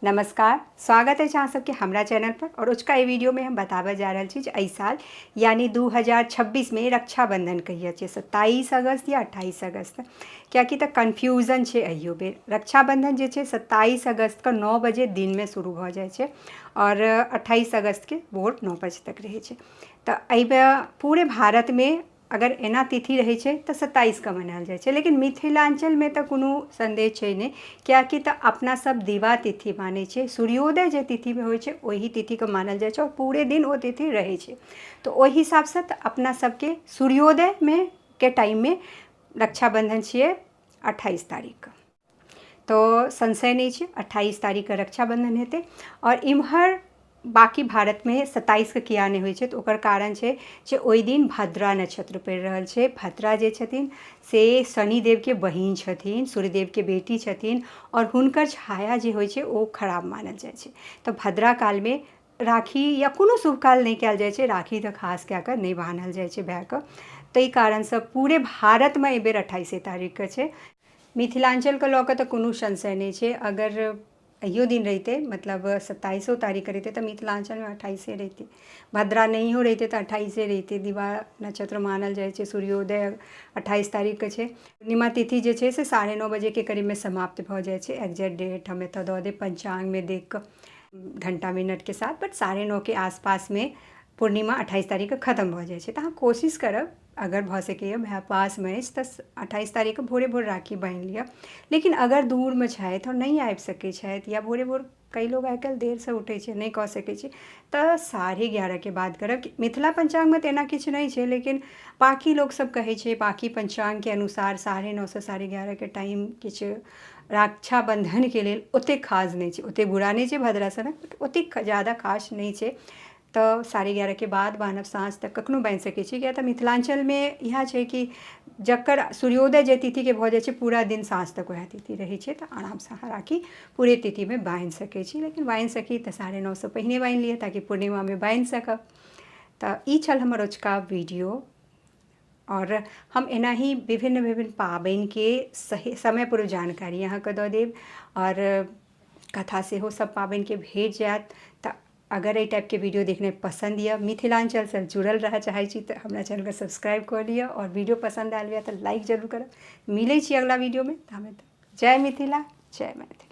नमस्कार स्वागत अछि अहाँ सबके हमरा चैनल पर और उचका एहि वीडियो में हम बताबऽ जा रहल छी जे एहि साल यानी 2026 में रक्षाबंधन कहिया छै 27 अगस्त या 28 अगस्त कियाकि तऽ कन्फ्यूजन छै अहियो बेर रक्षाबंधन जे छै 27 अगस्त के 9 बजे दिन में शुरू भऽ जाइ छै और 28 अगस्त के भोर 9 बजे तक रहै छै तऽ एहि बेर पूरे भारत में अगर एना तिथि रहै छै तऽ सत्ताइस कऽ मनायल जाइ छै लेकिन मिथिलाञ्चलमे तऽ कोनो सन्देह छै नहि किएककि तऽ अपना सब दिवा तिथि मानै छियै सूर्योदय जे तिथिमे होइ छै ओहि तिथिके मानल जाइ छै आओर पूरे दिन ओ तिथि रहै छै तऽ ओहि हिसाबसँ तऽ अपना सबके सूर्योदयमे के टाइममे रक्षाबन्धन छियै अठाइस तारीखके तऽ संशय नहि छै अठाइस तारीखके रक्षाबन्धन हेतै आओर एम्हर बाँकी भारतमे सत्ताइसके किएक नहि होइ छै तऽ ओकर कारण छै जे ओहिदिन भद्रा नक्षत्र पड़ि रहल छै भद्रा जे छथिन से शनिदेवके बहिन छथिन सूर्यदेवके बेटी छथिन आओर हुनकर छाया जे होइ छै ओ खराब मानल जाइ छै तऽ भद्रा कालमे राखी या कोनो शुभ काल नहि कएल जाइ छै राखी तऽ खास कऽ कऽ नहि बान्हल जाइ छै भाइके ताहि कारणसँ पूरे भारतमे एहिबेर अठाइसे तारीखके छै मिथिलाञ्चलके लऽ कऽ तऽ कोनो संशय नहि छै अगर अहियो दिन रहितै मतलब सत्ताइसो तारीख कऽ रहितै तऽ मिथिलाञ्चलमे अट्ठाइसे रहितै भद्रा नहियो रहितै तऽ अट्ठाइसे रहितै दिवाह नक्षत्र मानल जाइ छै सूर्योदय अट्ठाइस तारीख कऽ छै पूर्णिमा तिथि जे छै से साढ़े नओ बजेके करीबमे समाप्त भऽ जाइ छै एग्जेक्ट डेट हम एतऽ दऽ देब पञ्चाङ्गमे देख कऽ घण्टा मिनटके साथ बट साढ़े नओके आसपासमे पूर्णिमा अट्ठाइस तारीख कऽ खतम भऽ जाइ छै तऽ अहाँ कोशिश करब अगर भऽ सकैए भाय पासमे अछि तऽ अठाइस तारीखके भोरे भोर राखी बान्हि लिअ लेकिन अगर दूरमे छथि आओर नहि आबि सकै छथि या भोरे भोर कइ लोक आइ काल्हि देरसँ उठै छै नहि कऽ सकै छै तऽ साढ़े एगारहके बाद करब कि मिथिला पञ्चाङ्गमे तऽ एना किछु नहि छै लेकिन बाँकी लोक सब कहै छै बाँकी पञ्चाङ्गके अनुसार साढ़े नओसँ साढ़े एगारहके टाइम किछु रक्षाबन्धनके लेल ओतेक खास नहि छै ओतेक बुरा नहि छै भद्रासनक ओतेक जादा खास नहि छै तऽ साढ़े एगारहके बाद बान्हब साँझ तक कखनो बान्हि सकै छी किएक तऽ मिथिलाञ्चलमे इएह छै कि जकर सूर्योदय जाहि तिथिके भऽ जाइ छै पूरा दिन साँझ तक वएह तिथि रहै छै तऽ आरामसँ अहाँ राखी पूरे तिथिमे बान्हि सकै छी लेकिन बान्हि सकी तऽ साढ़े नओसँ पहिने बान्हि लिअ ताकि पूर्णिमामे बान्हि सकब तऽ ई छल हमर अजुका वीडियो आओर हम एनाही विभिन्न विभिन्न पाबनिके सही समयपर जानकारी अहाँके दऽ देब आओर कथा सेहो सब पाबनिके भेट जाएत तऽ अगर एहि टाइपके वीडियो देखनाइ पसन्द यऽ मिथिलाञ्चलसँ जुड़ल रहऽ चाहै छी तऽ हमरा चैनलके सब्सक्राइब कऽ लिअ आओर वीडियो पसन्द आयल यऽ तऽ लाइक जरूर करब मिलै छी अगिला वीडियोमे ताबे तक जय मिथिला जय मैथिली